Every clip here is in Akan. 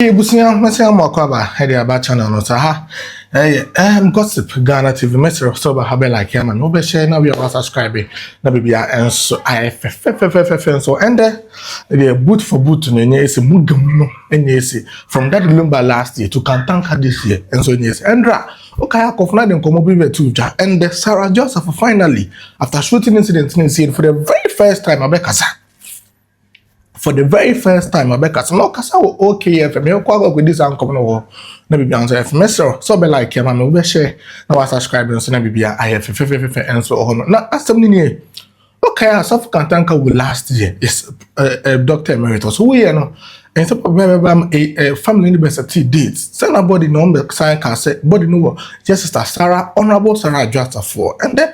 Hey abusua, mɛsɛ ama akɔ aba ɛde aba channel no saa ha ɛyɛ ɛm gossip Ghana TV mɛsrɛ sɛ ɔba ha bɛ like ama me wobɛhyɛ na wia wa subscribe na bibia ɛnso ayɛ fɛfɛfɛfɛfɛ nso ɛndɛ ɛdeɛ boot for boot no ɛnyɛ ɛsi mu gam no ɛnyɛ ɛsi from that lumba last year to kantanka this year ɛnso ɛnyɛ ɛsi ɛndra okay akɔfo na de nkɔmɔ bi bɛ tu dwa ɛndɛ Sarah Joseph finally after shooting incident no ɛsi for the very first time abɛkasa for the very first time ɔbɛkasa na ɔkasa wɔ OKFM yɛkɔ akɔ akɔdi saa nkɔm no wɔ hɔ na biribi ahosuo ayɛ fɛ mɛsrɛ sɛ ɔbɛ like ma me wobɛhyɛ na wasubscribe nso na biribi ayɛ fɛfɛfɛfɛ nso wɔ hɔ no na asɛm no nie wokae a sɔfo kantanka wo last year is uh, uh, doctor emeritus woyɛ no ɛnsɛ papa bɛbɛ ba family no bɛsɛ ti date sɛ na body na ɔmbɛ san ka sɛ body no wɔ yɛ sister sara honorable sara adwo asafoɔ ɛndɛ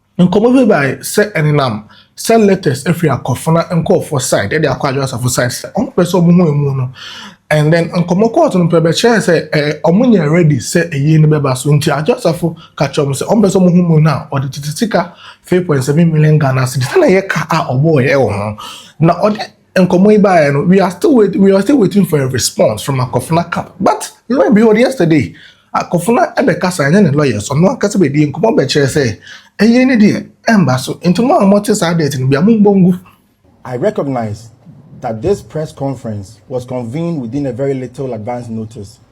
Nkɔmmɔ bi bae sɛ ɛnenam sɛ letters firi akofena nkurɔfoɔ side de akɔ Adwo Asafo side sɛ wɔn pɛ sɛ wɔhu ɛmu no and then nkɔmmɔ kɔɔ so no pɛ bɛkyerɛɛ sɛ ɛɛ wɔn nyɛ ready sɛ ayie no bɛba so nti Adwo Asafo ka kyerɛɛ wɔn sɛ wɔn pɛ sɛ wɔn hu mu no a ɔde tete sika three point seven million Ghana cedis na ɛyɛ ka a ɔbɔɔɛ wɔ ho na ɔde Nkɔmmɔ yi baeɛ no, we are still wait, we are still waiting for a response from Akofena camp. But lo and behold, yesterday, Akofena ɛbɛkasa ɛne ne lawyers, ɔno ankasa bɛdie nkɔmmɔ bɛkyerɛ sɛ ɛyɛ ne deɛ ɛmba so. Nti mo a mote saa date no bia mombɔ ngu. I recognize that this press conference was convened within a very little advance notice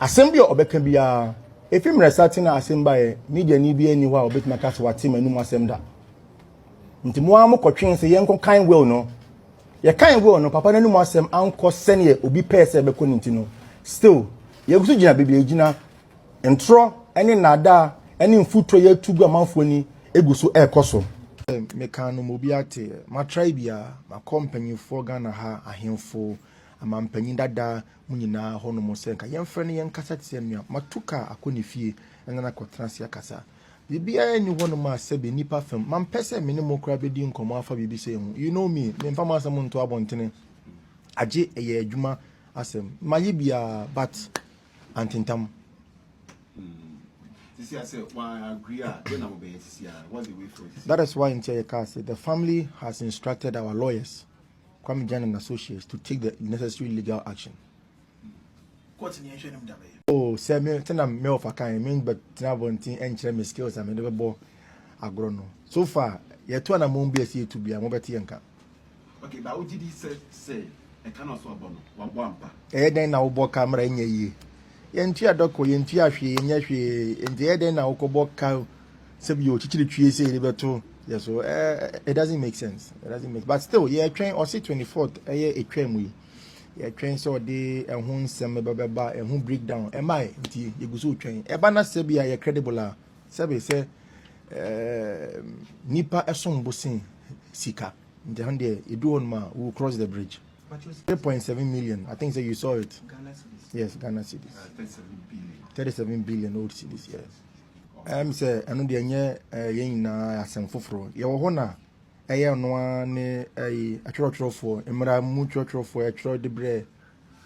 Asɛm bi a ɔbɛka biara, efi mmerɛ saten a asɛm baeɛ, mediani biara nni hɔ a ɔbɛtumi aka sɛ wate m'anom asɛm da. Nti mo ara mokɔtwee sɛ yɛnkɔkan will no. Yɛkan will no, papa no anom asɛm ankɔ sɛdeɛ obi pɛɛ sɛ ɛbɛkɔ no nti no, still, yɛgu so gyina baabi a yɛgyina. Ntorɔ ne nnaadaa ne mfutuo a yɛretu gu amanfoɔ ani gu so rekɔ so. Mekaa no ma obi ate. Matrae biara, makɔ mpanyinfoɔ Ghana ha, ahemfo, amanpanyin dada, Mo nyinaa hɔ nom sɛ nka yɛmfrɛ no yɛnkasa te sɛ nnuam. Matu kaa akɔ ne fie na no akɔtena ase akasa. Biribiara nni hɔ nom a sɛbe nnipa fam. Mampɛ sɛ me ne mo koraa bɛdi nkɔmmɔ afa biribi sei ho. You know me, memfa m'asɛm nto abɔntene agye ɛyɛ adwuma asɛm. Mayɛ bi a but antentam. That is why nti a yɛkaa sɛ the family has instructed our lawyers. Kwame Gyana and Associates to take the necessary legal action. Oh, sɛ me sɛ na me ɔfa kan me bɛ tena abɔnten ɛnkyerɛ me skills a mede bɛbɔ agorɔ no so far yɛto anamɔn bi a ɛsɛ yɛtu bia mobɛte yɛn ka. Okay, ba wogye di sɛ sɛ ɛka na ɔso abɔ no wabɔ ampa. Ɛyɛ dɛn na wobɔ ka mmerɛ ɛnyɛ yie? Yɛntua dɔ kɔ, yɛntua hwee, yɛnyɛ hwee. Nti ɛyɛ dɛn na wokɔbɔ ka sɛ bi ɔkyekyere twie sɛ yɛde bɛto yɛ so? Eh, it doesn't make sense. It doesn't make But still, yɛtwɛn ɔse 24th ɛyɛ ɛtwa mu yi. Yɛtwɛn sɛ ɔde ɛho nsɛm ɛbɛ bɛba, ɛho breakdown. Ɛma ɛ, nti yɛgu so twɛn. Ɛba na sɛ bi a yɛ credible a, sɛ bi sɛ eh, nipa ɛsom bo sen sika. Nti ɛho deɛ, ɛdu hɔ nom a, we will cross the bridge. three point seven million i think say you saw it ghana cedis yes ghana cedis uh, thirty seven billion thirty seven billion old cedis yes ɛm sɛ ɛno deɛ ɛnyɛ eh, yɛn nyinaa asɛm foforɔ yɛwɔ hɔ na ɛyɛ ɔno ara ne ɛyi eh, atwerɛtwerɛfoɔ mmara mu twerɛtwerɛfoɔ ɛtwerɛ de brɛ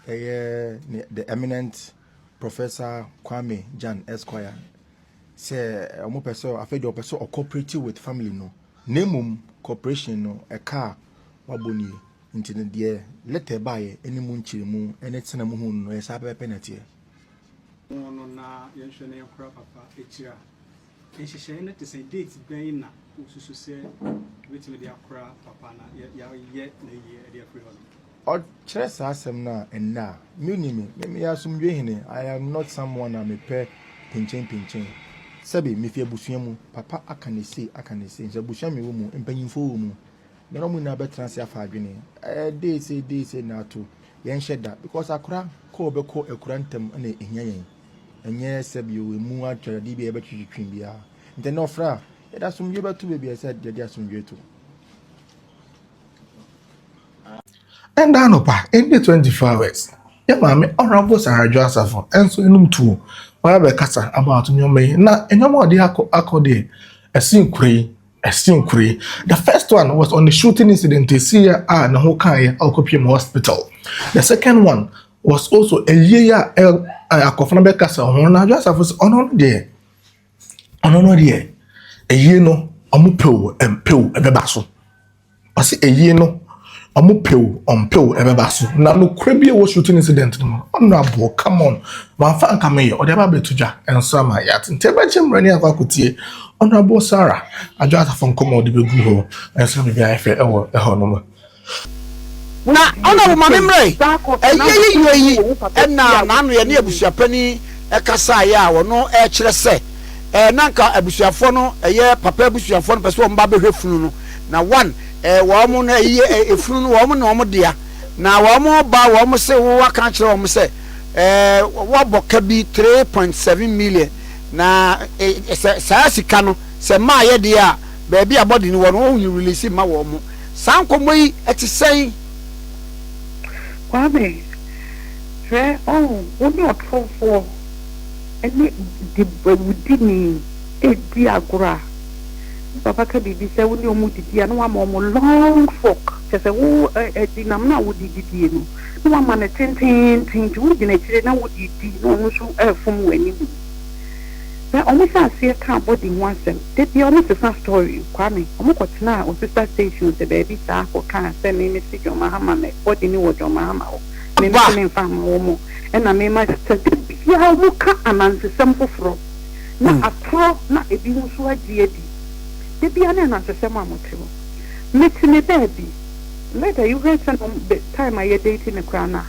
ɛyɛ the eminent professor kwame jan esquire sɛ eh, wɔn pɛ sɛ afei deɛ wɔpɛ sɛ ɔcooperative with family no na mmom cooperation no ɛka a wabɔ nie. Nti no deɛ lɛtɛ baeɛ ne mu nkyerɛmu ne tena mu hu no no, ɛyɛ saa pɛpɛpɛ na ɛteɛ. Ho no na yɛnhwɛ na yɛnkora papa akyiri a, nhyehyɛeɛ no te sɛn? Date bɛn na wosusu sɛ yɛbɛtumi de akora papa na yɛayɛ n'ayie de afiri hɔ no? Ɔkyerɛ saa asɛm no a, ɛnnɛ a, menni me, me meyɛ asomdwoeɛ hene, I am not someone a mepɛ pinkyenpinkyen. Sɛbe, mefi abusua mu, papa aka ne sei, aka ne sei, nso abusua a mewɔ mu, mpanyimfoɔ wɔ mu, Me na ɔmo nyinaa bɛtena ase afa adwene. Ɛɛ dee sei dee sei na ato. Yɛnhyɛ da because akora kɔ ɔbɛkɔ akura ntɛm na ehia yɛn. Ɛnyɛ sɛ bio emu atwere adeɛ bi a yɛbɛtwetwetwe biara. Nti ɛnɛ ɔfrɛ a yɛde asomdwoe bɛto baabi a ɛsɛ sɛ yɛde asomdwoe to. Ɛnda anɔpa ɛnde 24 hours yɛ maame Honourable Sarah Adwoa Asafo nso anom tuo ma yɛabɛkasa about nneɛma yi na nneɛma a ɔde akɔ akɔ deɛ ɛsen kura yi Ɛsen kuro yi. The first one was on the shooting incident ɛsiiɛ a ne ho kaeɛ a ɔkɔpie mu hospital. The second one was also ɛyie a akɔfo no bɛkasa ho na adwa asafo sɛ ɔno no deɛ ɔno no deɛ ɛyie no ɔmo pɛw ɛmpɛw ɛbɛba so. Ɔse ɛyie no ɔmo pɛ o ɔmo pɛ o ɛbɛba so na nokorɛ bi ɛwɔ shooting incident no mu no ɔno aboɔ come on wamfa anka meyɛ ɔde aba abɛto dwa ɛnso ama yɛate nti ɛbɛkyɛ mmerɛ ne akɔ akɔtie ɔno aboɔ Sarah adwo asafo nkɔmɔ a ɔde bɛgu hɔ ɛnso na biribi ayɛ fɛ ɛwɔ ɛhɔ nom. Na Honourable Mame Mmerɛe, ɛyɛ yiyie yi na n'ano yɛ ne abusuapanin kasaeɛ a ɔno ɛrekyerɛ sɛ na anka abusuafoɔ no ɛyɛ papa abusuafoɔ no pɛ sɛ wɔn ba bɛhwɛ funu no. na wɔn eh, wɔn no ɛyi eh, efunu no wɔn na wɔn dea, na wɔn ba wɔn se wo waka akyerɛ wɔn sɛ eh, wɔabɔ ka bi 3.7 million na eh, sɛ saa sika no sɛ maa yɛ deɛ a baabi a bɔde no wɔ no wɔn release ma wɔn saa nkɔmmɔ yi ɛte sɛn. Kwame, hwɛ ɔn, wo ne ɔtorofoɔ ne de awudini ɛredi agorɔ a. Ne papa ka biribi sɛ wo ne wɔn didi a, na wama wɔn long fork, kyerɛ sɛ wo ɛdinam no a wode didie no, na wama no tenteenten nti wogyina akyire na wode redi na wɔn nso refom wɔn anim. Na wɔn hyɛ aseɛ kaa body ho asɛm. Da biara wɔn sesa story. Kwame, wɔn kɔ tenaa Osista station sɛ baabi saa kɔ kaa sɛ me mesi John Mahama me body no wɔ John Mahama hɔ. Me nso me nfa mma wɔn ɛna me ma. Sɛ da biara wɔn ka anansesɛm foforɔ. na atorɔ na ebi ho nso agye adi. Da biara ne anansesɛm a mote no. Mete me baabi. Later you heard sɛ na the time a yɛ date no koraa na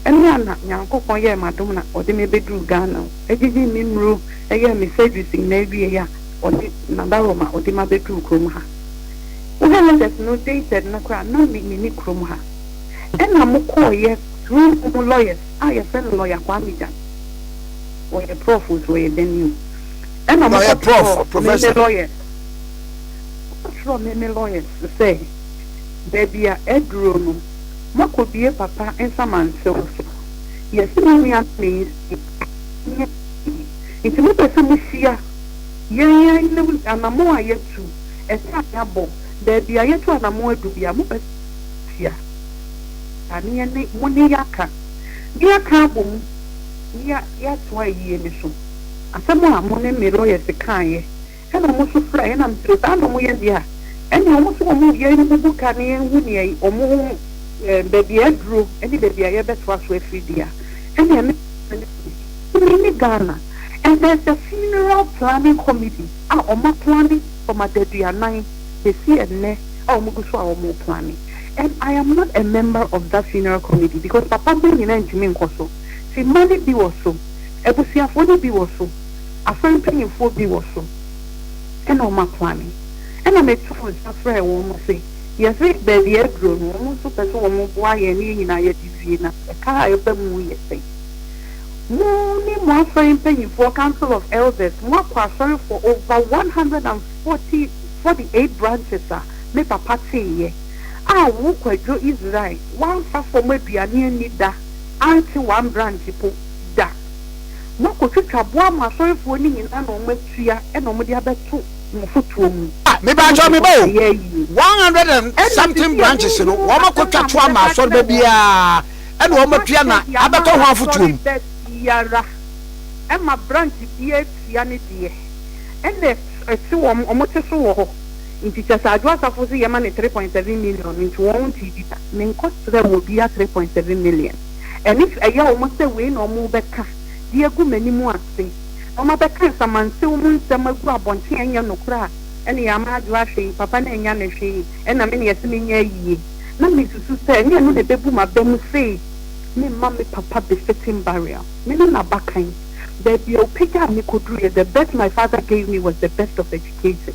ɛno a na Nyankopɔn yɛɛ me adom na ɔde me bɛduru Ghana o. Ɛgyegyee me mmuro, ɛyɛɛ me surgeries nyinaa awieeɛ a ɔde Nadaroma ɔde ma bɛduru kurom ha. Wohwɛ letters no dated no koraa na me menni kurom ha. Ɛna mokɔɔeɛ through mo lawyers a yɛfrɛ no lawyer Kwame Gyan. ɔyɛ prɔf nso ɔyɛ dɛn ni o ɛna ɔmo kɔ kyerɛw meme lawyers ɔmo kyerɛw meme lawyers sɛ baabi a aduro no mɔkɔ bie papa nsamansew so yɛsi me nua me nsi nyɛ nti mo pɛ sɛ mo hyia yɛn yɛn ne anamo a yɛtu ɛsɛ a yɛabɔ baabi a yɛtu anamo adu bi a mo pɛ hyia aneɛ ne mo ne yɛaka ne yɛaka abɔ mu. nea yɛatoa yie no so. Asɛm a mo ne me lɔyɛse kaeɛ ɛna ɔmo nso fira yɛn na me srɛ saa na ɔmo yɛ deɛ a ɛneɛ ɔmo se ɔmo yɛn no bubu ka na yɛn hu neɛ ɔmo ho ɛɛ baabi a aduro ɛne baabi a yɛbɛtoa so afiri deɛ a ɛneɛ me Tumi ne Ghana and there is a funeral planning committee a ɔmo aplane from adaduanan bɛsi ɛnnɛ a ɔmo gu so a ɔmo plane and I am not a member of that funeral committee because papa bɛ nyina ntumi nkɔ so. Ti mma no bi wɔ so, abusuafoɔ no bi wɔ so, afa mpanimfoɔ bi wɔ so, ɛna wɔn aplane. Ɛna meto nsa frɛɛ wɔn se, yɛse baabi a aduro no, wɔn nso pɛ se wɔn boa yɛn ne yɛn nyinaa yɛde wie, na ɛka a ɛba mu yɛ sɛn? Mo ne mo asɔre mpanimfoɔ, Council of Elders, mo akɔ asɔrefoɔ over one hundred and forty, forty eight branches a me papa teeɛ, a wo Kwadwo Israel, woamfa fam aduane anni da, Ante wambra ntipo da. Moakotwitwa boa mo asɔrefoɔ no nyinaa na ɔmo atua ɛna ɔmo de abɛto mo afotuo mu. Ah me ba kyɛw me ba o, one hundred and something branches no wɔn akotwa to ama asɔreba biara ɛna wɔn atua na abɛtɔ ho afotuo mu. Asɔreba biara ɛma branch biara tua ne deɛ ɛna ɛte wɔn wɔn ti so wɔ hɔ. Nti kyɛ sɛ adwo asafo se yɛma no three point seven million no nti wɔn ntee bi da. Menkɔ srɛ wɔ biaa three point seven million. Ɛnif ɛyɛ wɔn sɛ wei na wɔn bɛka de agu m'anim ase na wɔn abɛka nsamansew mu nsɛm agu abɔnten a ɛnyɛ nokorɛ a ɛne yɛ ama adwo ahwɛ yi papa no annya no hwee ɛna me na yɛse menyɛ ayie na mesusu sɛ ɛnyɛ ɛno na ɛbɛbu m'aba mu sei memma me papa befitting burial. Me ne n'abakan. Baabi a ɔpagyaa me kɔduruiɛ the birth my father gave me was the best of education.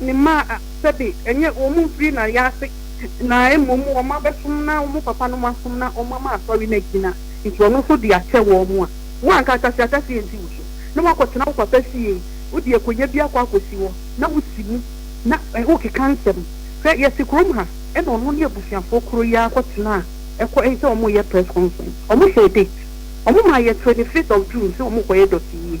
Ne mma a, sɛbe, ɛnyɛ wɔn mfiri na wɔyɛ ase, na mmom wɔn abɛsom na wɔn papanom asom na wɔn ama asɔre no agyina, nti ɔno nso de akyɛ wɔn a, wo anka asase ahyɛse ansi wo so, na woakɔtena wo papa fie, wode akonya bi akɔ akɔsi hɔ, na wosi mu, na wokeka nsɛm. Hwɛ, yɛte kurom ha, ɛna ɔno ne abusuafoɔ korɔ yi ara kɔtenaa ɛkɔ ɛyi sɛ wɔreyɛ press conference, wɔhyɛɛ date, wɔmaa yɛɛ 25th of June sɛ wɔkɔyɛ dɔteyie.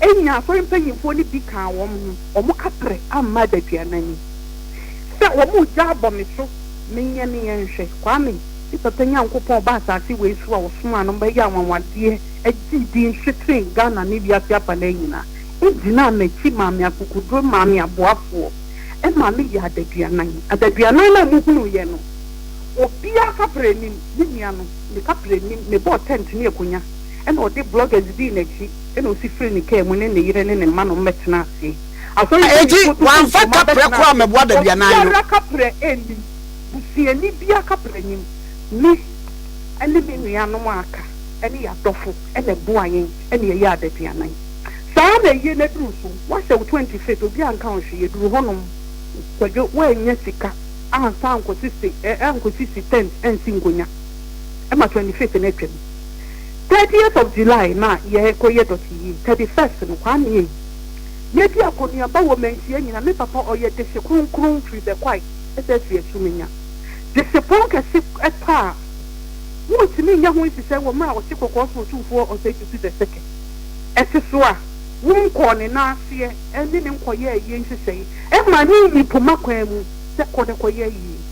Enya asɔre mpanyimfo no bi kaa wɔn ho. Wɔampere amma adaduanan yi sɛ wɔregya abɔ me so menyɛ ne yɛn nhwɛ. Kwame, me papa Nyankopɔn a ɔbaa asase wei so a ɔsomaa no ma ɛyɛɛ anwanwadeɛ gyee din hye sen Ghana ne wiase afanaa nyinaa, gyinaa m'akyi maa me akokoduro maa me aboafoɔ ma me yɛɛ adaduanan. Adaduanan no a mohunuuiɛ no, obiara kaprɛ nnim, me nua no, ne kaprɛ nnim, mebɔɔ tɛnt ne akonya na ɔde blɔgɛs dii n'akyi. Ɛnna osi firii ne kaa mu ne ne yere ne ne mma nom bɛtenaa ase. Asɔre mpanyimfoɔ Enti, tutuw wɔamfa mpoma kaprɛ bɛtenaa kɔɔ ase. mmɛboa daduanan no. Obiara kaprɛ nnim. Busuani biara kaprɛ nnim. Me ne me nuanom a aka ne yɛn adɔfo na ɛboaa yɛn na yɛyɛɛ adaduanan. Saa ara na ɛyɛ na ɛduru so. Woahyɛ wo twenty fifth, obiara anka wo hwee. Yɛduru hɔnom, Kwadwo, woannya sika ansa ankɔsisi ɛ, ankɔsisi tent ansi nkonnwa ma twenty fifth no atwam. Thirtieth of July na yɛ kɔ yɛ dɔte yie thirty first no kwaa meyɛ yi yɛ di akɔneaba wɔ manhyia nyina me papa ɔyɛ dehye kronkron firi bɛkwae ɛsɛ firi asu menya dehye pɔn kɛse ɛtɔ a won tumi nyɛ ho nhyehyɛ wɔ mmerɛ a ɔte kɔkɔɔ so otumfoɔ ɔsɛe tutu the second ɛte so a won kɔɔ ne nan aseɛ ɛne ne nkɔ yɛɛ yie nhyehyɛe ɛmaa ne nyi poma kwaa mu sɛ kɔ ne kɔ yɛ yie.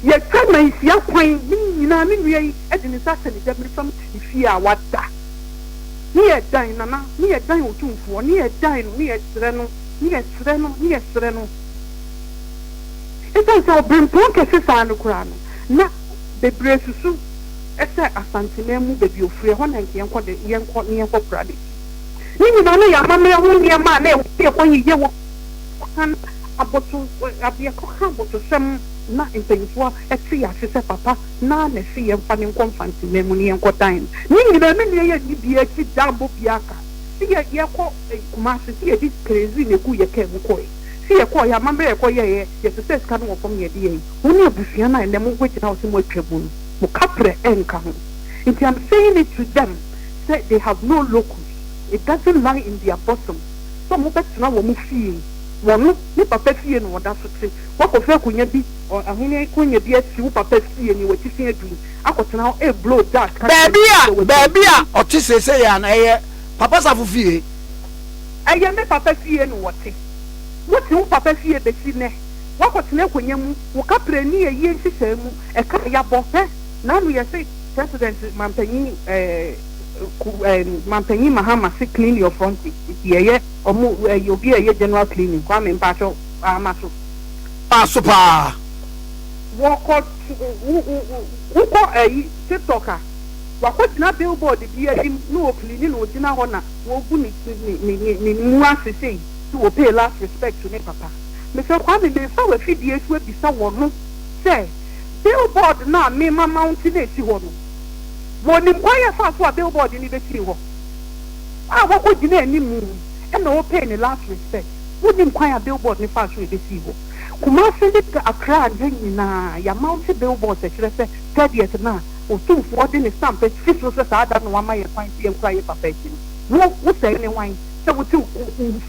Yɛtwa nansia kwan ne nyinaa me nua yi de ne nsa ahyɛ ne gyabere fam ne fie a wada ne yɛdan nana ne yɛdan otumfoɔ ne yɛdan no ne yɛsrɛ no ne yɛsrɛ no ne yɛsrɛ no ɛsiane sɛ ɔbrempɔn kɛse saa no koraa no na bebree susu sɛ Asanteman mu baabi ofiri ɛhɔ na nka yɛnkɔ de yɛnkɔ ne yɛnkɔ kora n'akyi ne nyinaa na yɛamammerɛ ho nneɛma a na ɛwɔ sɛ yɛkɔ yeyɛ wɔ Wɔkan aboto adeɛ kɔka abotosɛm na mpaninfoɔ te ase sɛ papa na na se yɛnfa no nkɔ mfanteman mu na yɛnkɔ dan no ne nyinaa me nua yɛnni bia akyi da mmɔ bia aka se yɛ yɛkɔ Kumasi se yɛde kerezi na egu yɛ kaa mu kɔɛ se yɛkɔɔ yɛ amamerɛ yɛkɔ yɛɛyɛ yɛsesɛɛ sika no wɔ fam na yɛde yɛɛyɛ wo ne abusua no a ɛnɛ mo bɛgyina hɔ se mo atwa mu no mo kaprɛ ɛnka ho nti am saying it to them sɛ they have no locus it doesn't lie in their bottom. sɛ wɔbɛtena wɔn fie. Wɔno ne papa fie na wɔda so te. Woakɔfa akonya bi wɔ Ahenni konya bi akyi, wo papa fie nea w'atifi adu yi, akɔtena hɔ? Ee, Blow, Jack ka kyerɛɛ me sɛ w'atifi. Baabi a ɔte seesei yi ana ɛyɛ Papa Safo fie? Ɛyɛ me papa fie na wɔte. Wote wo papa fie besi nnɛ. Woakɔtena akonya mu. Wo kaprɛ nni ayie nhyehyɛe mu. Ɛka a yɛabɔ, hɛ? N'ano yɛ se President, Mampanyin, eh. Mampanyin Mahama se clean your front page nti yɛyɛ ɔmo ɛyɛ obi a ɛyɛ general cleaning Kwame mpakyɛw paa ma so. Paa so paa wɔkɔ wokɔ ɛyi tiktok a wakɔ gyina billboard bi ahim na ɔcleani na ɔgyina hɔ na wɔgu ne ne ne ne mu ase sei sɛ wɔ pay last respect to ne papa Mister Kwame mefa wafidie so abisa wɔ no sɛ billboard no a me ma mounte no ɛsi hɔ no Wɔnim kwan a ɛfaa so a billboard no besii hɔ a wɔkɔgyinaa anim na wɔpɛɛ ne last respect. Wonim kwan a billboard no faa so a ebesii hɔ. Kumasi ne Accra ha nyinaa, yɛamounte billboards a ɛkyerɛ sɛ thirtieth no a Otumfoɔ de ne stamp asi so sɛ saa da no na wama yɛn kwan sɛ yɛnkura yɛn papa akyi no. Wo, wo sɛɛ ne wan sɛ wote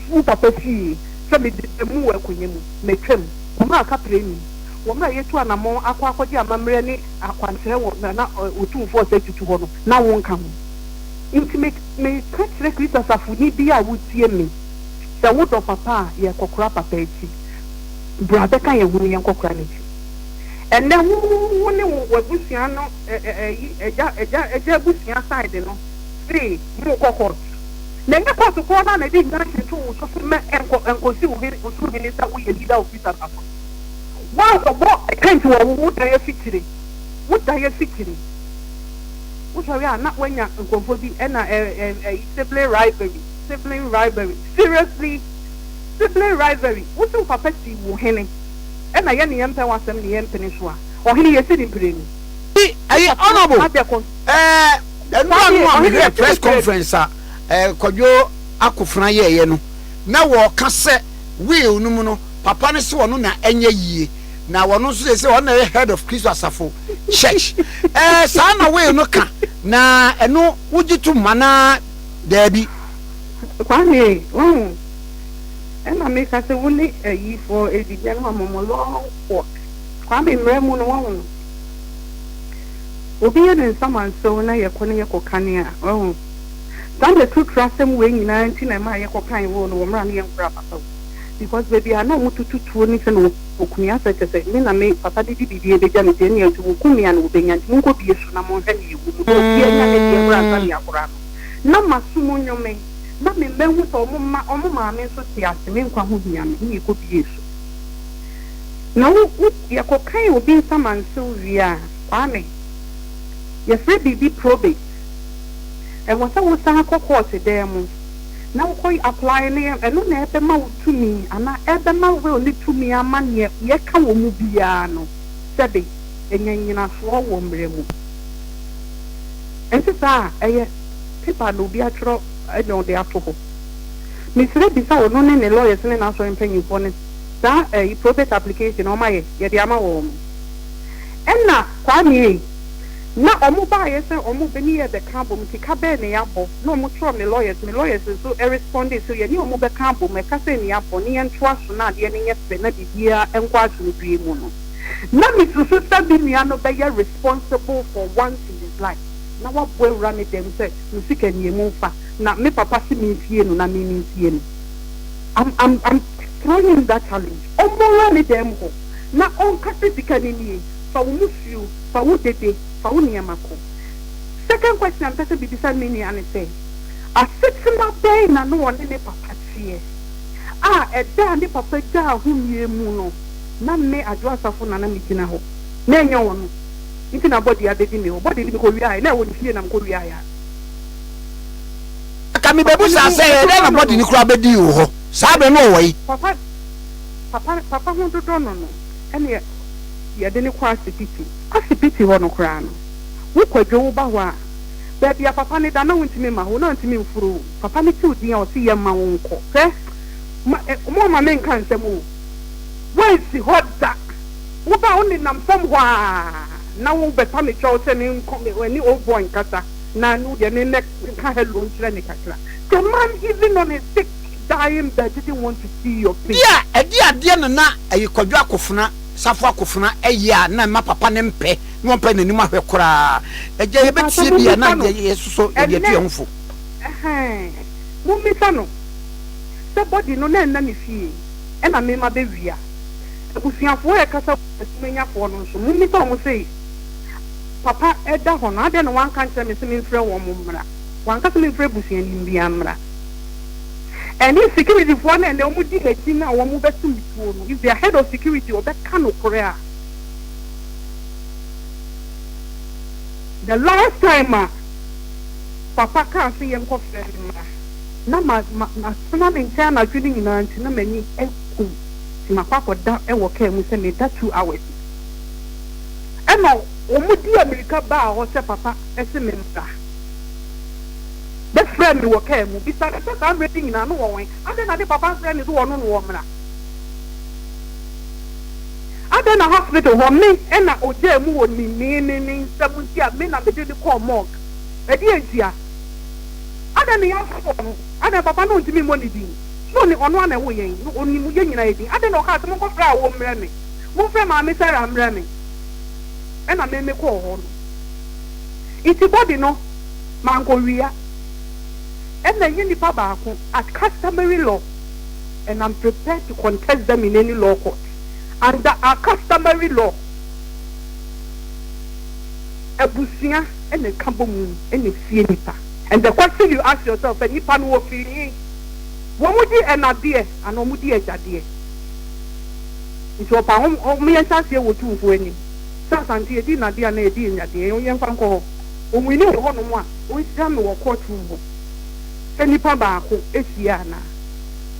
wo papa fie sɛ mede da mu wɔ akonya mu, matwam. Wɔn a kaprɛ nnim, wɔn a yɛatu anammɔn akɔ akɔgye amammerɛ ne akwankyerɛ wɔ na na Otumfoɔ a ɔsɛe tutu hɔ no, na wonka ho. Enti me, meka kyerɛ Kristo asafoni bi a wotie me, Sɛ wodɔ papa a, yɛrekɔkora papa akyi. Bra bɛka yɛn ho na yɛnkɔkora n'akyi. Ɛnnɛ, wo, wo ne wo, w'abusua no, ɛ, ɛ, ayi, agya, agya, agya abusua side no, se morekɔ court. Na ɛnyɛ court korɔ no ara na ɛde nnwanhwere too wo so se mɛ ɛnkɔ, ɛnkɔsi wo hene, Ɔsoro Hene sɛ woyɛ leader of this asafo no. Woankɔbɔ tent wɔ wo dan afikyiri, wo dan afikyiri. Wosɔre a na woanya nkurɔfoɔ bi na ɛ ɛ ɛyi sibling rivalry, sibling rivalry. Seriously, sibling rivalry. Wose wo papa sii wo hene, ɛna yɛne yɛmpɛ w'asɛm ne yɛmpene so a, ɔhene yɛsi ne mprenu. Ɛyi honourable ɛɛ nnura no a mehwɛ press conference a ɛɛ Kwadwo Akofena yɛɛyɛ no na wɔɔka sɛ. will no mu no papa no sɛ ɔno na ɛnyɛ yie na ɔno nso sɛ sɛ ɔno na ɛyɛ head of kristo asafo church ɛɛ eh, saa na will no ka na ɛno wogye to ma na daabi kwame wahu ɛna meka sɛ wo ne ayi fɔ ɛdibia no ma mo long walk kwame mmerɛ mu no wahu obi yɛ ne nsamansew na yɛkɔ ne yɛkɔ kane a wahu Saa na aturutura asɛm wei nyinaa nti na ɛmaa yɛkɔ kan woo no wɔ mmerɛ a ne yɛn nkura papa wu because baabi a na ɔmo tutu tuo ne sɛ na wɔku me asɛ kyɛ sɛ me na me papa bedi biribi a ɛbɛgya ne deɛ ne yɛn nso wɔku me a na wɔbɛnya nti monkɔ bie so na monhwɛ ne yɛwu mu na obiara nya ne deɛ mmra ansa ne yɛakora no na maso mu nyo me na me mma hu sɛ ɔmo mma ɔmo maame nso te ase me nkwa ho hia me ne yɛkɔ bie so na wo wo yɛkɔ kan obi nsa mantew wie a kwame yɛfrɛ biribi probate. Ɛwɔ sɛ wo san kɔ kɔɔte dan mu na wo kɔ apply ne ɛno na ɛbɛma wo tumi anaa ɛbɛma will ne tumi ama neɛ yɛ ka wɔ mu biara no sɛbe ɛnya nyinasoɔ wɔ mmerɛ mu. Ɛnte saa a ɛyɛ paper na obi atwerɛ ɛna ɔde ato hɔ. Mesrɛ bisa ɔno ne ne lawyers ne n'asɔre mpanyinfoɔ no saa ɛyi probate application a wɔn ayɛ yɛde ama wɔn. Ɛna Kwame ei. Na ɔmo baayɛ sɛ ɔmo bɛ ne yɛ bɛ ka abom nti ka bɛɛ ne yɛ abɔ na ɔmo kyerɛw me lawyers me lawyers nso ɛrespondee so yɛ ne ɔmo bɛ ka abom ɛka sɛ ne yɛ abɔ ne yɛ ntoa so na adeɛ no nyɛ fɛ na biribiaa nkɔ asomdwie mu no na me susu sɛ me nua no bɛ yɛ responsible for once in his life na wabɔ awura ne dɛm sɛ me sika nie mo nfa na me papa se me nsie no na me me nsie no am am am throwing him that challenge ɔmmɔ awura ne dɛm hɔ na ɔnka sɛ sika no nie Fa wo musuo, fa wo dede, fa wo nneɛma kɔ. Second question a mepɛ sɛ mebisa me nua ne sɛ, asetena bɛn na na ɔne ne papa teɛ a ɛda a ne papa gyaa homie mu no na me Adwoa Asafo na na megyina hɔ na ɛnyɛ ɔno nti na body abɛdi me hɔ? Body no mekɔwiaeɛ na ɛwɔ ne fie na mekɔwiaeɛ a. Anka mebɛbu saa sɛ, ɛdɛn na body no koraa bɛdii wo hɔ saa berɛ no ɔwɔ he? Papa, papa, papa ho dodɔ no no ɛneɛ. Yɛde no kɔ asipiti. Asipiti hɔ no koraa no, wo Kwadwo wo ba hɔ a, baabi a papa no da na wontumi mma hɔ, na ɔntumi mforo o, papa no tew din a ɔse yɛmma wo nkɔ. Hwɛ, ma, eh, momma menka nsɛm o, woansi hɔ da, wo ba a ɔnenam fam hɔ ara na wobɛpa me kyɛw sɛ menkɔ, me, ɛne old boy nkasa na no deɛ me mmɛ, nka hello nkyerɛ no kakra. The man even on his sick, dying bed didn't want to see your face. Bia ɛde adeɛ no na ɛye Kwadwo Akofena. Safo Akofena ɛyɛ a na mma papa no mpɛ na ɔmpɛ nanim ahwɛ koraa agya yɛbɛtie bi a na yɛsosɔ yɛde atu yɛn ho fo. Ɛhɛn mommisa no sɛ body no na ɛnna ne fie ɛna mema bɛ wia abusuafoɔ a ɛkasa wɔ asumanyafoɔ no nso mommisa wɔn sɛ papa ɛda hɔ no adɛn na wanka nkyerɛ me sɛ memfrɛ wɔn mmra wanka sɛ memfrɛ abusuani biara mmra. Ɛne security foɔ no a ɛnɛ wɔn di nakyi no a wɔn bɛ to me tuo no, if their head of security ɔbɛ ka nokorɛ a, the last time a papa kaa se yɛn kɔ frɛ ne mmra, na ma ma ma tena ne nkyɛn anadwo no nyinaa nti na m'ani aku me, nti makɔ akɔ da wɔ car mu sɛ me da two hours, ɛna wɔn di amirika baa hɔ sɛ papa se me mmra. bɛfrɛɛ me wɔ kaa mu, bisaa me sɛ saa mmerɛ yi nyinaa no wɔwɛn, adɛn na ne papa mfrɛɛ no sɛ wɔne no wɔ mmra? Adɛn na hospital hɔ me na ɔgyaa mu wɔ ne ne ne ne nsam nti a me na mede no kɔɔ morgue? Ɛdeɛn ntia? Adɛn na yɛafoɔ no? Adɛn papa no ntumi mmɔ ne din? So ɔne ɔno ara na ɛwo yɛn? No ɔnim yɛn nyinaa yɛ din? Adɛn na ɔkaa sɛ monkɔfrɛ awoɔ mmrɛ me? Momfrɛ maame Sarah mmrɛ me? Ɛna me mekɔɔ hɔ no nti body no. Mankowia ɛna ɛnyɛ nipa baako at customary law and am prepared to contest them in any law court under our customary law abusua ɛna ɛka bɔ mu ɛna ɛsie nipa and the question you ask yourself sɛ nipa no wɔ firi he? Wɔn di ɛna deɛ anaa wɔn di agya deɛ? Nti ɔpa ho, ɔmo yɛnhyɛ aseɛ wɔ Otumfoɔ anim sɛ Asante yɛdi nna deɛ anaa yɛdi anya deɛ? Yɛnfa nkɔ hɔ. Onwini wɔ hɔnom a wonhyiam no wɔ court room hɔ sɛ nipa baako hyia anaa?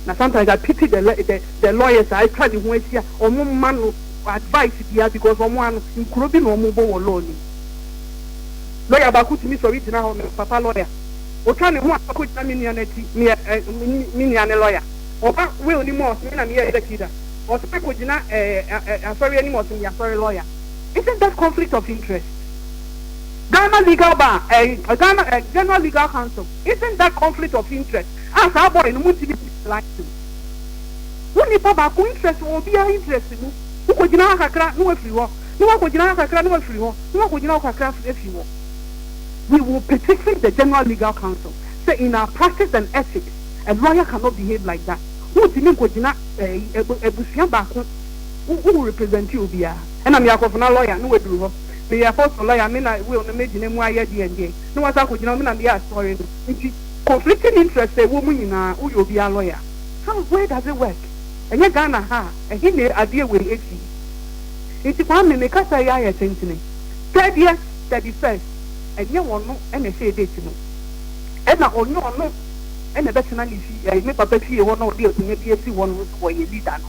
Na sometimes I pity the the the lawyers a atwa ne ho ahyia a wɔn mma no advice biara because wɔn ano nkuro bi na wɔn bɔ wɔ law no mu. Lawyer baako tumi sɔre gyina hɔ no, papa lawyer, otwa ne ho a ɔkɔ gyina me nua no akyi, me yɛ eh, me nua ne lawyer, ɔba will no mu a ɔse me na me yɛ executor, ɔsan akɔ gyina eh, eh, eh, asɔre anim a ɔse me yɛ asɔre lawyer. Isn't that conflict of interest? Ghana Legal Bar ɛɛ Ghana ɛɛ General Legal Council isn't that conflict of interest a saa boy no montumi nni ne license wo nipa baako interest wɔ obiara interest mu wokɔgyina ha kakra na wafiri hɔ na wakɔgyina ha kakra na wafiri hɔ na wakɔgyina hɔ kakra afiri hɔ we will petition the General Legal Council sɛ in our practice and ethics a lawyer cannot behave like that wontumi nkɔgyina ɛɛ abusua baako wo wo represent obiara ɛna meyɛ akɔfena lawyer na waduru hɔ. meyɛ apostle lɔya me na will no megyina mu ayɛ deɛ ndeɛ na wasan akɔgyina hɔ me na meyɛ asɔre no nti conflicting interest a ɛwɔ mu nyinaa woyɛ obiara lɔya how where does it work ɛnyɛ Ghana ha a ɛhe na adeɛ wei ɛfi nti Kwame me kasa yi ayɛ tentene sɛdeɛ thirty first ɛnyɛ ɔno na ɛhyɛɛ date no ɛna ɔnyɛ ɔno na ɛbɛtena ne fie ɛɛ me papa fie hɔ na ɔde akonnwa bi asi hɔ no nso ɔyɛ leader no.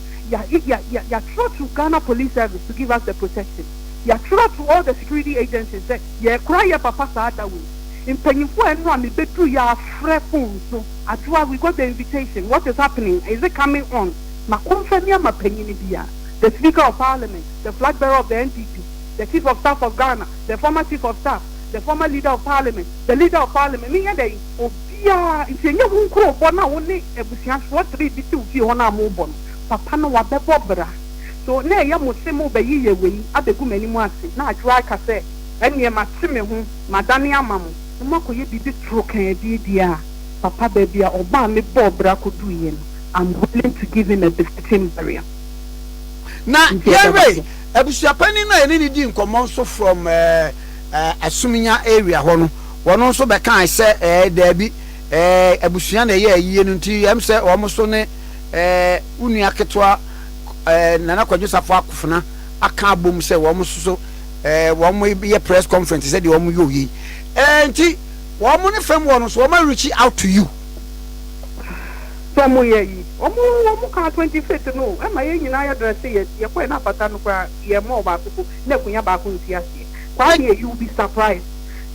ya ya ya ya yatwerɛ to Ghana police service to give us the protection, yatwerɛ to all the security agencies sɛ yɛkora yɛ papa saa da wei, mpanyinfoɔ a ɛno a me bɛduru yɛ afrɛ phone so Adwoa we got the invitation what is happening is it coming on ma kɔmfa ni ama panyini bia the speaker of parliament, the flag bearer of the NDP, the chief of staff of Ghana, the former chief of staff, the former leader of parliament, the leader of parliament, menyɛ dɛn? Obiara, nti ɛnyɛ ho nkurobɔ no a wo ne abusuafoɔ three bi te wo fie hɔ no a mobɔ no, papa no wabɛbɔ bra. So na ɛyɛ mo se mobɛyeyɛ wei abɛgu m'anim ase? Na Adwoa ka sɛ, Ɛneɛ mate me ho, madane ama mo, na moakɔyɛ biribi toro kaa adie deɛ a, papa baabi a ɔbɔ a mebɔɔ bra kɔduuiɛ no, I'm willing to give him a befitting burial. Na yɛwe abusuapanin no a yɛne no dii nkɔmmɔ nso from Asumnya area hɔ no. Wɔn nso bɛkae sɛ, Ɛɛ, daabi, ɛɛ, abusua na ɛyɛ ayie no nti, ɛm sɛ wɔn nso ne ɛɛ, wo nua ketewa ɛɛ, Nana Kwadwo Safoa Akofena aka abom sɛ wɔn nso so ɛɛ, wɔyɛ press conference sɛdeɛ wɔn yɔɔ yei. Ɛɛ, nti wɔn ne fam hɔ no nso wɔn a reach out to you. Sɛ wɔn yɛ ayi. Wɔn, wɔn kaa twenty fifth no o, ɛma yɛn nyinaa yɛ dresse yɛ, yɛkɔɛ na afata no koraa, yɛn mɔɔ baako po, na akunya baako nsi aseɛ. Kwaa deɛ you will be surprised.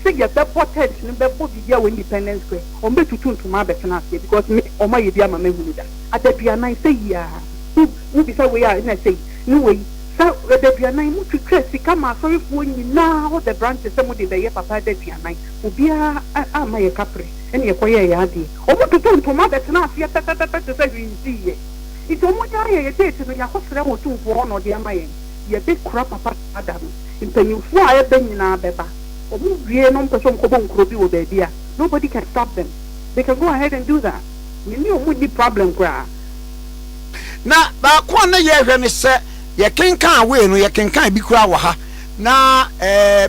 sɛ yɛbɛbɔ tent no bɛbɔ biribi a wɔ independence square wɔn bɛ tutu ntoma abɛtena aseɛ because me wɔn ayɛ bi ama mahu no da adaduanan sɛ yiaa wo wo bisa wei a na sɛyi ne wei sa adaduanan mo twitwa sika ma asɔrefoɔ nyinaa all the branches sɛ mo de bɛyɛ papa adaduanan obiara a ama yɛ kapre ɛna yɛkɔ yɛɛ yɛ adeɛ wɔn tutu ntoma bɛtena aseɛ pɛpɛpɛpɛ te sɛ hwee nsiiyɛ nti wɔn nyaa yɛ yɛ date no yɛakɔ srɛ wɔn tumfoɔ hɔ na ɔde ama yɛn. yɛbekora papa saa da no mpanyinfoɔ a ɛbɛ nyinaa bɛba ɔmo wie na ɔmo pɛsɛ ɔmo kɔbɔ nkuro bi wɔ baabi a nobody can stop them they can go ahead and do that me ne ɔmo nni problem koraa. Na baako a na yɛhwɛ ne sɛ yɛkenkan wei no yɛkenkan bi koraa wɔ ha na ɛɛ.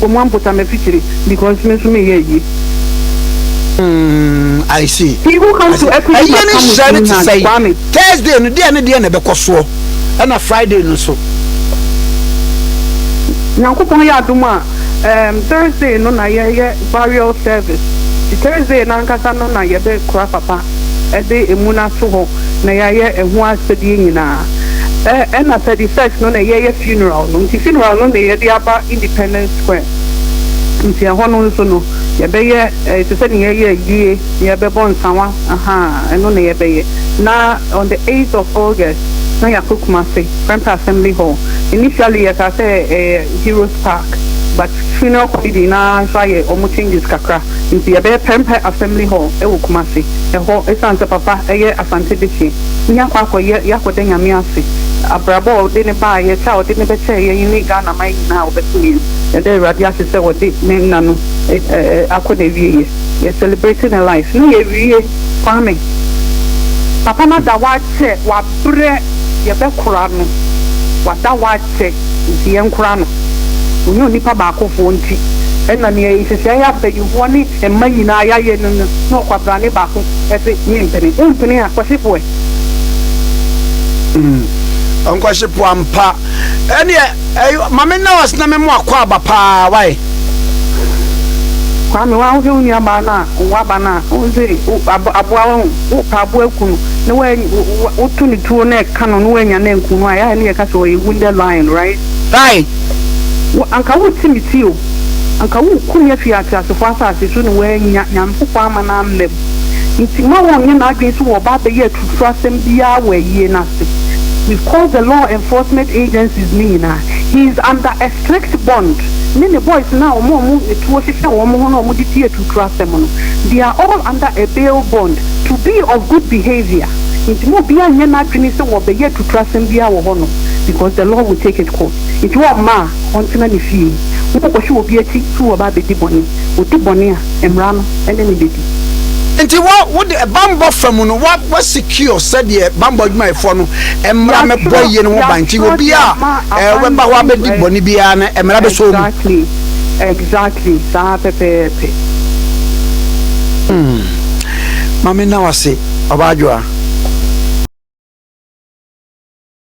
Wɔ mo ampota me fitiri because me nso me yɛ ayi. Mm, I see. He who comes to Equity must come with clean hands. Kwame. Thursday no deɛ ne deɛ na ɛbɛkɔ soɔ ɛna Friday no so. Nyankopɔn yɛ adom a um, Thursday no na yɛyɛ burial service. Ti Thursday nankasa no na yɛbɛ kura papa. de emu no ato hɔ na yɛayɛ ɛho asɛdeɛ nyinaa. Ɛ ɛna thirty first no na yɛyɛ funeral no nti funeral no na yɛde aba independence square nti ɛhɔ no nso no yɛbɛyɛ ɛ te sɛ nea yɛyɛ ayie na yɛbɛbɔ nsawa ahaa ɛno na yɛbɛyɛ na on the eighth of August na yɛakɔ Kumasi Prempeh Assembly Hall initially yɛkaa sɛ ɛyɛ Heroes Park but funeral committee no ara nso ayɛ wɔn changes kakra. Nti yɛbɛyɛ pɛrempɛ Assembly Hall wɔ Kumasi. Ɛhɔ, esiane sɛ Papa yɛ Asante Bichi, ne yɛakɔ akɔyɛ, yɛakɔda Nyame ase, abrabɔ a ɔde no baeɛ, kyɛ a ɔde no bɛkyɛɛ yɛn yi ne Ghana man nyinaa a ɔbɛsom yɛn. Yɛda Awurade ase sɛ ɔde ne nna no akɔ n'awieɛ. Yɛ celebrate ne life na yɛawie. Kwame, Papa no ada hɔ akyɛ, wabrɛ, yɛbɛkora no, wada hɔ akyɛ. pɛ nti yɛnkora no. Ɔnyɛ onipa baakofoɔ nti na nea nhyehyɛeɛ a mpaninfoɔ ne mma nyinaa yɛayɛ no no na ɔkwabrane baako se mempene. Wompene a kwahyefoɔ ɛ? Umm ɔnkwahyefoɔ ampa ɛneɛ ɛy mame nurse na me mo akwaaba paa wai. Kwame woa wohwɛ wo nuabaa no a ɔwɔ aba no a wohu se aboa wo. wopa aboa ku no na wa woto ne tuo na ɛka no na wanya na nku no a yɛa ne yɛka sɛ ɔyɛ wounded lion right right wo anka woti me ti o anka woku me afi ateasefo asase so na wanya nyankopɔn ama no amam nti ma wɔnyɛ n'adwene so wɔ ɔba abɛyɛ atuturu asɛm biara wɔ ayie no ase we've called the law enforcement agencies ne nyinaa he is under a strict bond ne ne boys no a wɔn a wɔn tuo hyehyɛ wɔn ho na wɔn de di nkrasɛm no, They are all under a bail bond to be of good behaviour, nti ma obiara nnyɛ n'adwene sɛ wɔbɛyɛ atuturasɛm biara wɔ hɔnom, because the Lord will take it course, nti wɔmma a ɔntena ne fie, wonkɔhwe obi akyi so wɔba abɛdi bɔne, ɔdi bɔne a, mmara no ne no bɛdi. Nti wɔ, wode bammɔ fa mu no, wa, secure sɛdeɛ bammɔ adwumayɛfoɔ no mmara mɛbɔ yie no ho ban, nti obiara a, ɛɛ, ɔbɛba hɔ abɛdi bɔne biara no, mmara bɛsɔ mu. Exactly saa pɛpɛɛpɛ. Hmm ma me nna wo ase ɔbaa adwoa.